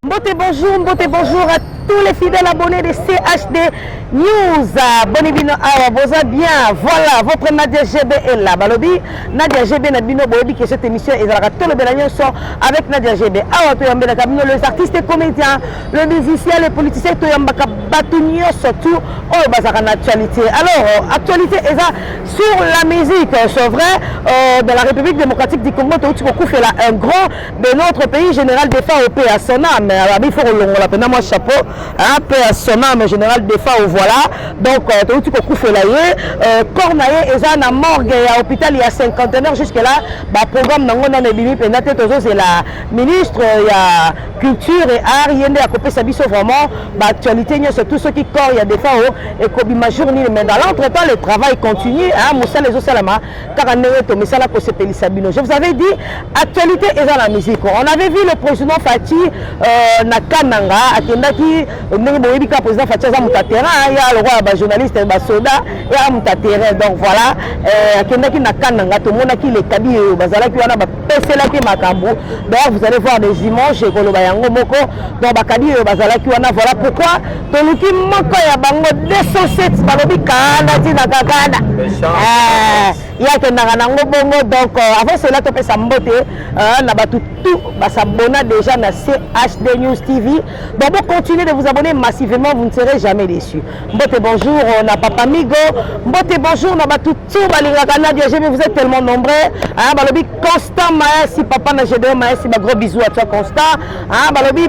Mbote bonjour, mbote bonjour à tous les fidèles abonnés de CHD News. Boni bino awa boza bien. Voilà, votre Nadia GB est là. Balobi Nadia GB na bino boyebi que cette émission ezalaka tolobela nyonso avec Nadia GB. Awa toyambelaka bino les artistes et comédiens, le musicien, les politiciens toyambaka bato nyonso tout oyo bazalaka na actualité. Alors, actualité eza sur la musique c'est vrai euh, dans la république démocratique du congo touti kokufela un grand de notre pays général défend au paix à son âme abi faut kolongola mpena mwa chapeau hein, paix à son âme général défend au voilà donc euh, touti kokufela ye euh, corps na ye eza na morgue ya hôpital ya cinquantenaire jusque là baprogramme nango nano ebimi mpenza te tozozela ministre ya culture et art ye nde akopesa biso vraiment baactualité nyonso tout soki corps ya défend ekobima jour nini mais dans l'entre temps le travail continue hein, mosala ezosalama kaka ndenge tomesana kosepelisa bino je vous avais dit actualité eza na musique on avait vu le président fati euh, na kananga akendaki ndenge boyebi kaka président fati aza moto ya terrain ya lokola bajournaliste basoda ya moto ya terrain donc voilà euh, akendaki na kananga tomonaki lekabi oyo bazalaki wana bapeselaki makambo d'ailleurs vous allez voir des images ekoloba yango moko donc bakabi oyo bazalaki wana voilà pourquoi toluki moko ya bango 207 balobi kanda ntina kakanda eh, ye akendaka nango bongo donc euh, avant cela topesa mbote euh, na bato tout basabona déjà na chd news tv donc bo continuer de vous abonner massivement vous ne serez jamais déçu mbote bonjour euh, na papa migo mbote bonjour na bato tout balingaka nadia gb vous êtes tellement nombreux balobi constant maesi papa na gdo maesi bagros bisou à toi constant balobi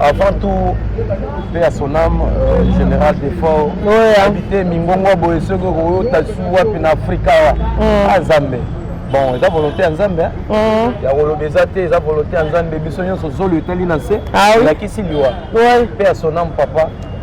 Avant tout, paix à son âme, euh, général Defort, ouais, hein. habité Mingongo Boye, ce que vous avez su en Afrique, mm. à Zambé. bon eza volonté ya nzambe mm. ya koloba eza te eza volonté ya nzambe biso nyonso zolo etali na nse elakisi ah liwa mpe ya sonam papa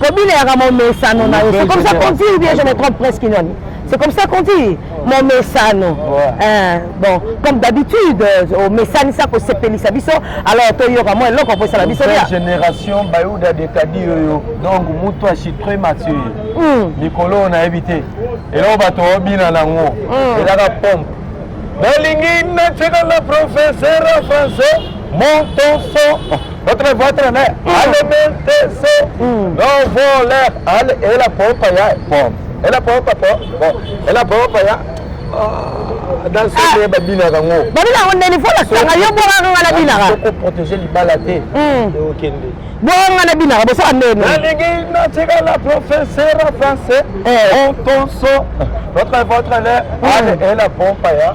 kobileyaka momesano na yo c'est comme ça qu'on dit ou bien je me trompe presque nani c'est comme ça qu'on dit momesano eh, bon comme d'habitude euh, omesanisa kosepelisa biso alors toyoka mwa eloko mpo esala biso bia génération bayuda dekadi oyo donc moto achitre mathieu hmm. mikolo oyo nayebi te eloko bato obina nango hmm. ezaka pompe nalingi natyeka na professeur français montonso votre votre ne ale mentese no voler ale ela pompa ya pom ela pompa po bon ela pompa ya dans ce nde babinaka ngo babina ngo ndeni fo lasanga yo bongaka nga nabinaka soko protege libala te okende bongaka nga nabinaka bosaka ndeni nalingi natikala professeur français ontonso votre votre ne ale ela pompa ya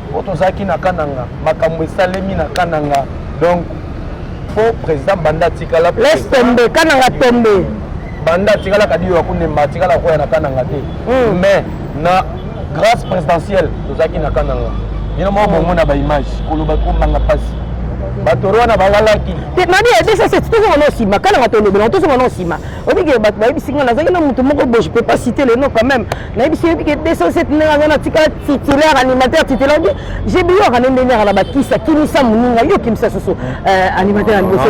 po tozalaki na kananga makambo esalemi na kananga donc po président banda atikala laisse tombe kananga tombe banda atikala kadiyo ya kunemba atikala koya na kananga te hmm. mais na grâce présidentielle tozalaki na kananga bino moko bongo na baimage koloba komanga mpasi batoro wana balalaki nabi ebesese tozonga na nsima kananga tolobela tozonga na nsima obike bato bayebisi ngai nazalaki na moto moko bo je peux pas citer le nom quand même nayebisi yebi ke 207 ndenge aza na tikala titulaire animateur titulaire obi jebi yo akande ndenge aka na bakisi akimisa moninga yo okimisa susu euh, animateur ya liboso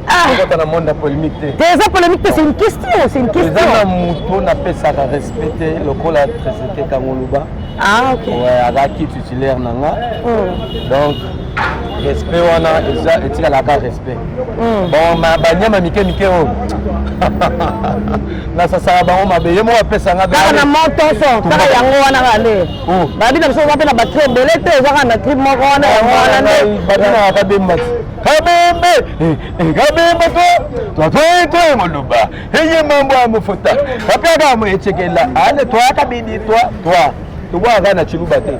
ah! na monde ya polémique te te eza polémique te c'est une question c'est une question eza na moto napesaka respect te lokola tresete kangoluba ah, azalaki titulaire na nga hmm. donc respect wana eza etikalaka respect Mm. bon banyama mike mike oyo nasasaka bango mabe ye moko apesa nga kaka na moto so kaka yango wana kaka nde oh. babi na biso oza mpe na batri ebele te eza kaka na tri moko wana ah, yango wana nde babinaka kabemba ti kabembe eh, eh, kabembe to twatwetwe moluba eye mambo ya mofuta bapiaka mo ecekela ale twaka bidi twa twa tobwaka na ciluba te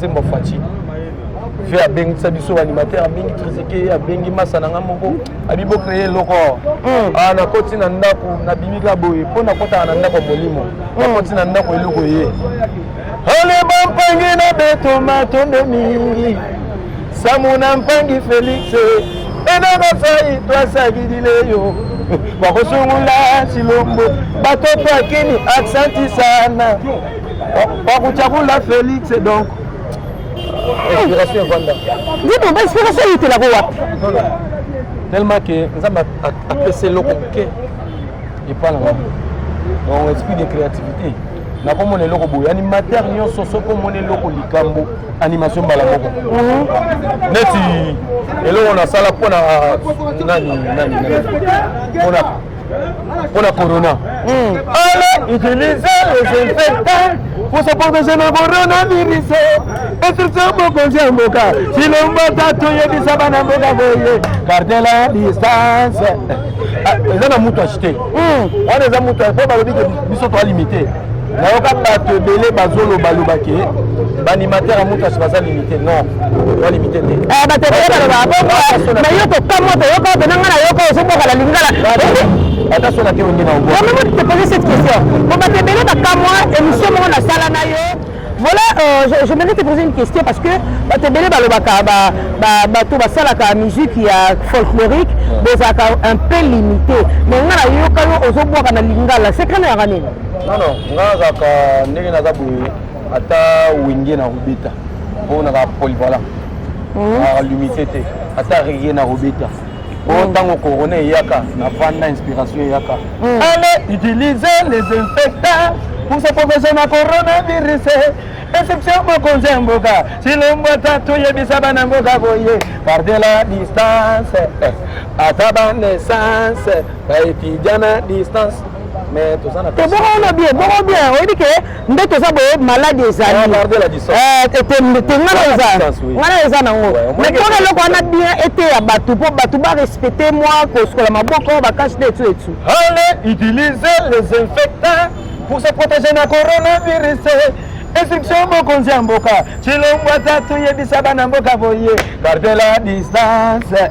Zembo Fatshi fe abengisa biso animateur abengi triseke abengi masa na nga moko abi bocreye eloko hmm. ah, nakoti na ndako nabimi ka boye mpo nakotaka na ndako ya molimo hmm. nakoti na ndako eloko ye ale bampangi na beto matondo mingi samu na mpangi felix enakasai twasakilileyo bakosungula silombo batoto akini aksanti sana Kwa kuchagula Felix donc inspiration evanda nzembo ba inspiration eyetelako wapi tellement ke nzambe apesa eloko moke epai na ngai donc esprit de créativité nakomona eloko boye animateur nyonso soki omona eloko likambo animation mbala moko mhm. neti eloko nasala mpona nani nani mpona mpo na corona hmm. ala utilise desinfectant pour se protéger na coronavirus etirisa mokonzi ya mboka silombo tatu yebisa bana mboka boye garde la distance ah, eza na mutu achete hmm. wana eza mutu po balobi ke biso toalimite nayoka bato ebele bazoloba loba ke baanimateur ya mutasi baza limite non ba limite te eh, bato ebele baloba bongo na yo kokamwa toyoka obe na ngai nayoka ozoboka na lingala ata so na te ongi na obo omemi te poser cette question po bato ebele bakamwa émission moko nasala na yo Voilà, euh, je, je mérite de poser une question parce que bato ebele balobaka bato basalaka musique ya folklorique bozalaka un peu limité mais nga nayoka yo ozobwaka na lingala secret na yaka nini non non nga nazalaka ndenge naza boye ata wenge na kobeta mpo nazalaka polyvalent nazalaka limité te ata rege na kobeta oyo oh, ntango corona eyaka na vanda inspiration eyaka hmm. ale utilise les inspecteurs pour se protéger na coronavirus exception mokonzi ya mboka silombo tatu yebisa bana mboka boye parde la distance eh, ata banesance baetudia na distance mais toza na toboko na bien boko bien oyebi ke nde toza boye maladi ezali ngana eza nango metona eloko wana bien eteya bato mpo bato barespecte mwa kosukola maboko bakashi nde etu etu utilise les infectants pour se protéger na coronavirus instruction mokonzi ya mboka cilongwa tatu yebisa bana mboka boye garde la distance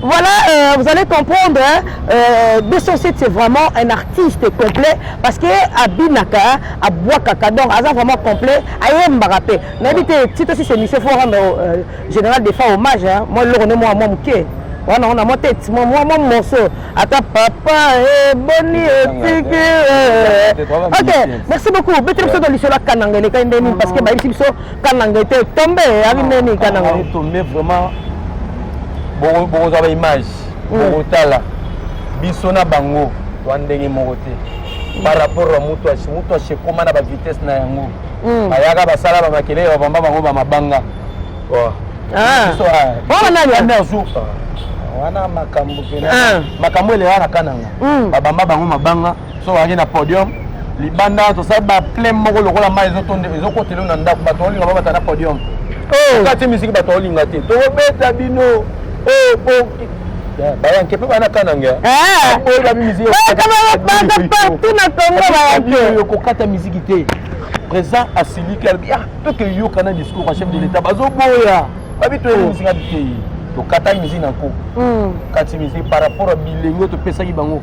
Voilà, euh, vous allez comprendre, hein, euh, 207 c'est vraiment un artiste complet parce que Abinaka, Abouakaka, donc Aza vraiment complet, Aye Mbarapé. N'habite, si aussi c'est Monsieur Forum, euh, général des fois hommage, hein, moi le rené moi mon mouké. wana ona mwa tete mwa mwa morceau ata papa eboni eh, etiki eh, eh. ok merci beaucoup beteli biso to lisolo ya kananga elekai nde nini parce que bayebisi biso kananga ete tombe abi neni kananga tombe vraiment bokozwa ba image mm. bokotala biso na bango twa ndenge moko te mm. par rapport ya mutu ashe mutu ashe ekoma na bavitesse na yango mm. bayaka basala bamakelele babamba bango bamabanga oh. ah. ah, nani wana makambo ah. makambo eleyaka na kananga babamba bango mabanga so bazalaki na podium libanda tosali baplain moko lokola mai ezokotela na ndako bato olinga babata na podium oh. kati misiki bato olinga te tokobeta bino oh, boki bayanke mpe bana kananga eh. oyo babi miziki kokata miziki te président asiliki alobi ah toke yoka na discours ya chef de l'état bazoboya babi toyebi oh. miziki abi te tokataki miziki na nko hmm. kati miziki par rapport ya bilenge oyo topesaki bango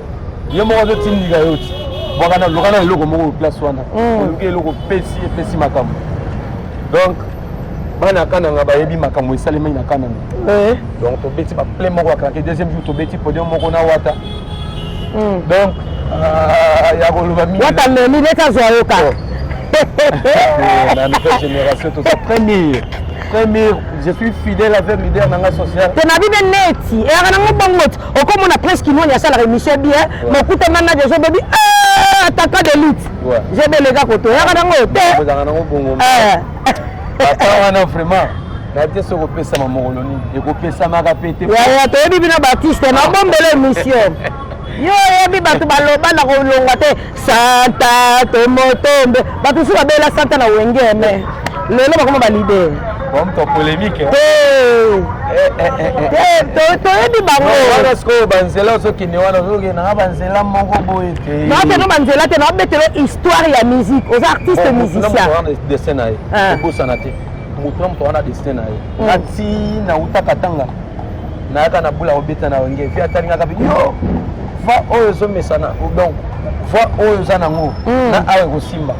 yo moko azotindika yo ti bwakana lokana eloko moko place wana mm. oluki eloko opesi epesi makambo donc bana ya kananga bayebi makambo esalemaki na kananga eh. donc tobeti baple moko ya kanke deuxième jour tobeti podium moko na wata mm. donc euh, ya koloba mingi wata memi leta azwa yo kaka oh. eh, na nouvelle génération toza premier premier je suis fidèle avec leader nanga social te nabi be neti eyaka nango bongo okomona prince kimoni asalaka émission bien mokuta manaje ezobebi eh, ataka de lutte jebelega koto oyaka nango te eh. ata wana vraiment natie soki okopesama mokolo nini ekopesamaka mpe te yaya toyebi bino baartiste nabombela émission yo oyebi bato baloba na kolongwa te santa tomotombe bato mosusu babela santa na wenge me lelo bakoma balidere bomto polemique te eh, eh, eh, toyebi bangowana sikoyo banzela ozokende wana ozokende nanga banzela moko boye te nakende banzela te nabetelo histoire ya musique oza artiste oh, musiciendestin na ye ah. obosana te moto na moto wana destin na ye hmm. nati nautaka tanga nayaka na bula kobeta na wenge vi atalingaka bi yo va oyo ezomesana donc va oyo oza nango hmm. na awa ekosimba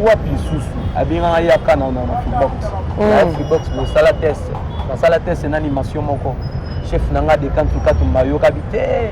wapi lisusu abengaka ye akana na na freebox hmm. na freebox bosala test nasala test na animation moko chef na nga dekantukatu mbayokabi te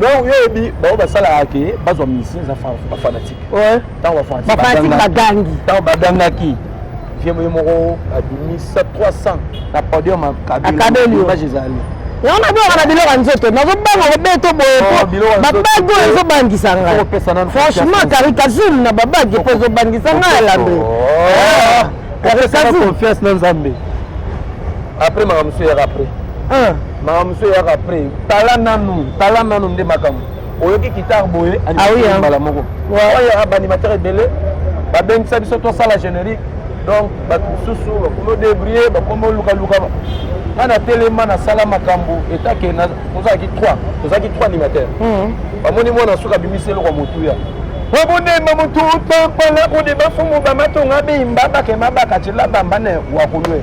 donc yo oyebi bango basalaka ke bazwa musicien eza bafanatike ntango bafanatike bagangi ntango bagangaki vie moye moko abimisa 300 na podium akabeliimage ezali yango nabengaka na biloko ya nzoto nazobanga kobeto boye oh, po babage oyo ezobangisa ngai franchement karikazulu na babage po ezobangisa ngai alabe karikazulu confiance na nzambe après makambo mosusu yaka après makambo mosusu eyaka après tala nanu tala nanu nde makambo oyoki kitare boye ah mbala moko oyaka baanimateur ebele babengisa biso tosala générique donc bato mosusu bakomi odebrie bakomi olukaluka nga natelema nasala makambo etake tozalaki trois tozalaki trois animateur hmm. bamoni mwana suka abimisi eloko ya motuya obundemba mutu utompala kudi bafumu bamatunga bimba bakema bakacila bambane wakulwe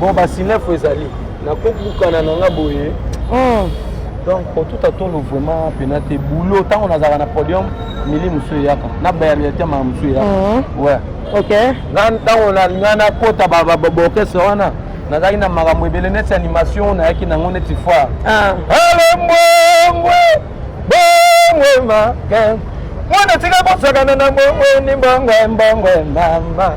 bon basinefo ezali nakobukana na nga boye hmm. donc otuta tolo vraiment pena te boulot ntango nazalaka na podium mili mosusu eyaka na bayamiyate mama mosusu eyaka hmm. we ok nga ntango nga nakota baorchestre wana nazalaki na makambo ebele neti animation nayaki nango neti foire ah. alembwengwe bongwe make mwana tika kosakana na bongwe ni bongwe mbongwe mama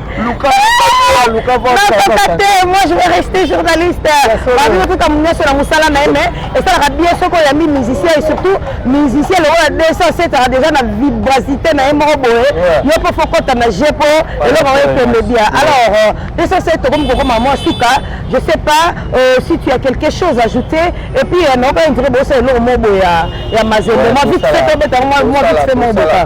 nakaka te moi je vais rester journaliste babi otuta nyonso na mosala na ye mais esalaka bien soki oyambi musicien et surtout musicien lokola 207aka déjà na vibracité na ye moko boye yo mpo fokota na je mpo eloko yango ekende bien alors 207 tokomi kokoma mwa suka je sais pas euh, si tu as quelque chose ajouté et puis euh, naoka indire bosa eloko moko boye ya mazembe mwa vite fait obeta mwa vite fait moko boka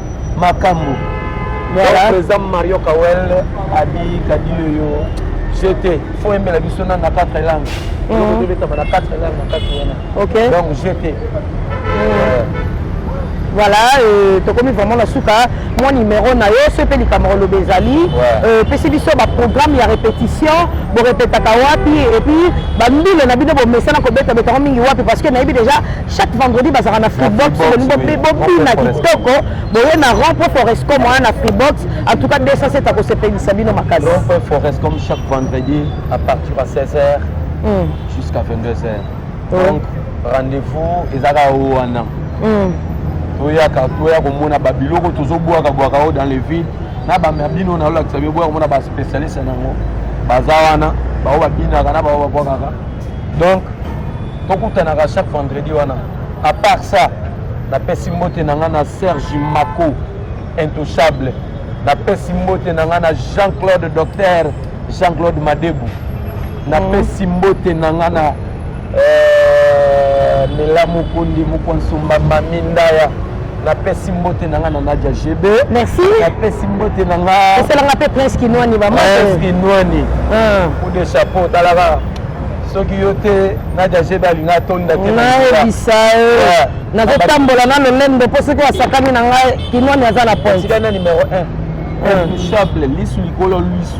makambo président mario kawel abi kadiyo yo jete fo yembela biso na na 4 langue tobetama na 4 langue na kati wana donc jete voilà euh, tokomi vraiment na suka mwa numero na yo soki mpe likambo koloba ezali euh, pesi biso baprogramme ya répétition borepetaka wapi epuis bambile na bino bomesana kobetabeta yango mingi wapi parce que nayebi déjà chaque vendredi bazalaka na freebox bobina kitoko boye na rond po foresco moya na freebox en tout cas 207 akosepelisa bino makasi forescom chaque vendredi à partir ya 16 heures mm. jusqu'à 22 heures mm. donc rendez-vous ezalaka wana mm. toyaka toya komona babiloko tozobwaka bwaka oyo dans les villes na bamya bino nalolakisa bibwaka komona baspecialiste yango baza wana baoyo babinaka na baoyo babwakaka donc tokutanaka chaque vendredi wana à part ça napesi mbote na ngai na serge mako intouchable napesi mbote na ngai na jean claude docteur jean claude madebu napesi mm. mbote na ngai na euh, mela mokundi mokonsumba mamindaya napesi mbote na nga na nadia gb merci napesi mbote na nga esala nga mpe prince kinwani bamaprince kinwani ah. coup de chapeau talaka soki yo te nadia gb alinga atonda te nayebisa ye nazotambola na lolendo mpo soki asakani na ngai kinwani aza na pointika na numero 1 intouchable lisu likolo lisu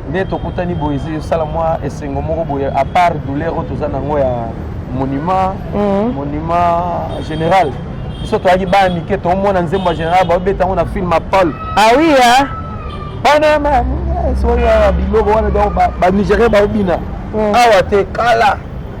nde tokutani boye ezosala mwa esengo moko boye à part douleur oyo toza nango ya monument mm. monument général biso toyaki bana mike tomona nzembo ya général babeta yango na film apol ah oui hein? bana soki biloko wana donc banigérien baobina mm. awa te kala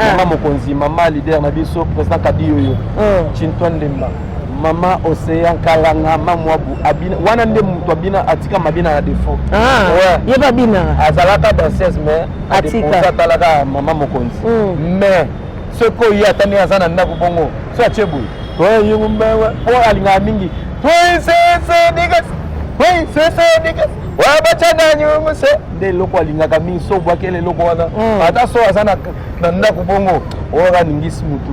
ah. mama mokonzi mama leader na biso président kabiyoyo mm. chintoine ndemba mama ocean kalanga mamwabu abina wana nde moto abina atika mabina na defaut ah, ye babinaka azalaka danseuse mais atalaka mama mokonzi mm. mais soki oye ata ndenge aza na ndako bongo so atie boye toyeyumbewe mpo alingaka mingi toisese digas toisese digas oyo bacandani mose nde eloko alingaka mingi so obwakeli eloko wana hmm. ata so aza na ndako bongo oyo aningisi motu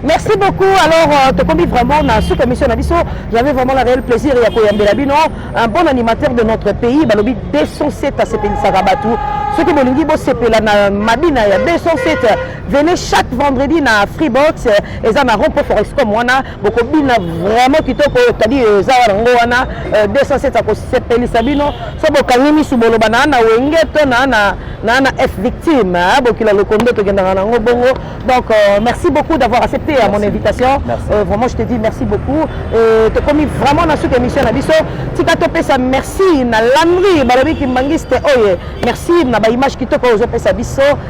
Merci beaucoup. Alors, euh, tu commis vraiment na sous commission na biso. J'avais vraiment le réel plaisir ya koyambela bino un bon animateur de notre pays. Balobi 207 à sepelisa rabatu. Soki bolingi bo sepela na mabina ya 207. Venez chaque vendredi na Freebox et ça na Rompo Forexcom wana bokobina vraiment kitoko oyo tadi eza wana ngo wana 207 euh, akosepelisa bino so bokangi misu boloba naa na wenge to naa na naa na f victime hein, bokila lokondo tokendaka nango bongo donc euh, merci beaucoup d'avoir accepté à euh, mon invitation euh, vraiment je te dis merci beaucoup euh, tokomi vraiment na suka émission na biso tika topesa merci na lamri balobi kimbangiste oye merci na baimage kitoko ozopesa biso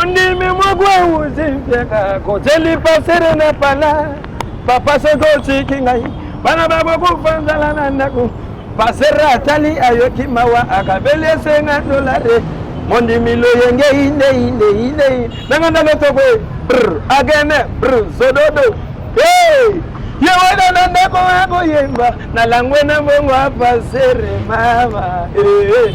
ondimi moko euzi mpiaka koteli pasere na pala papa soki otiki ngai bana bakokufa nzala na ndako pasere atali ayoki mawa akabeli esenga dolare mondimi loyenge inde inde inde nanga ndalo toko agene zododo ye wana na ndako akoyemba na langwe na mbongo apasere mama eh, eh.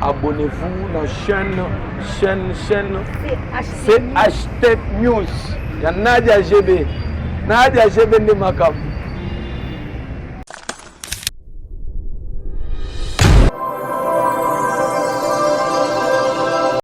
Abonnez-vous na chaîne chaîne chaîne CH Tech News ya Nadia GB. Nadia GB nde makambo.